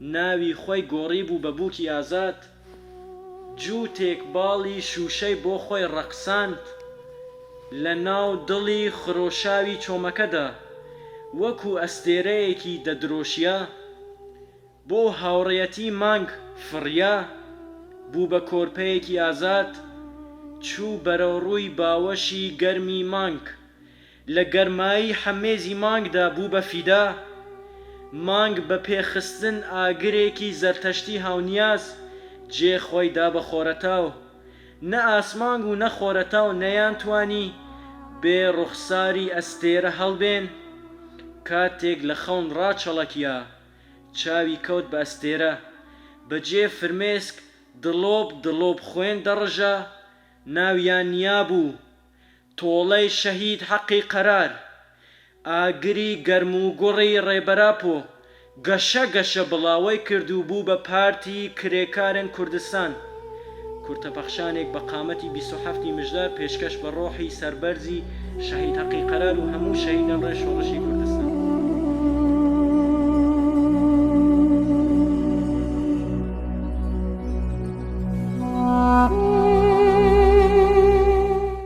ناوی خۆی گۆڕیبوو بە بووکی ئازاد، جووتێک باڵی شووشەی بۆ خۆی ڕەقساند لە ناو دڵی خرۆشاوی چۆمەکەدا، وەکوو ئەستێرەیەکی دەدرۆشیا، بۆ هاوڕێیەتی مانگ فڕیا، بوو بە کۆرپەیەکی ئازاد، چوو بەرەوڕووی باوەشی گەرمی مانگ، لە گەرمایی حەمێزی مانگدا بوو بە فیدا، مانگ بە پێ خستن ئاگرێکی زەرتەشتی هاونیاز جێ خۆی دا بە خۆرەتاو، نە ئاسمانگ و نە خۆرەتاو نەیان توانی بێ ڕوخساری ئەستێرە هەڵبێن، کاتێک لە خەون ڕاچەڵەکیا چاوی کەوت بە ئەستێرە، بە جێ فرمێسک دڵۆپ دڵۆپ خوێن دەڕژا ناویان نیابوو تۆڵەی شەهید حەقی قەرار، ئاگری گەرموگوڕی ڕێبەراپۆ گەشە گەشە بڵاوەی کرد و بوو بە پارتی کرێکارن کوردستان. کورتە پەخشانێک بە قامەتی بیست و حەفت ی مژدار پێشکەش بە ڕۆحی سەربەرزی شەهید حەقی قەرار و هەموو شەهیدان ڕێ شۆڕشی کوردستان.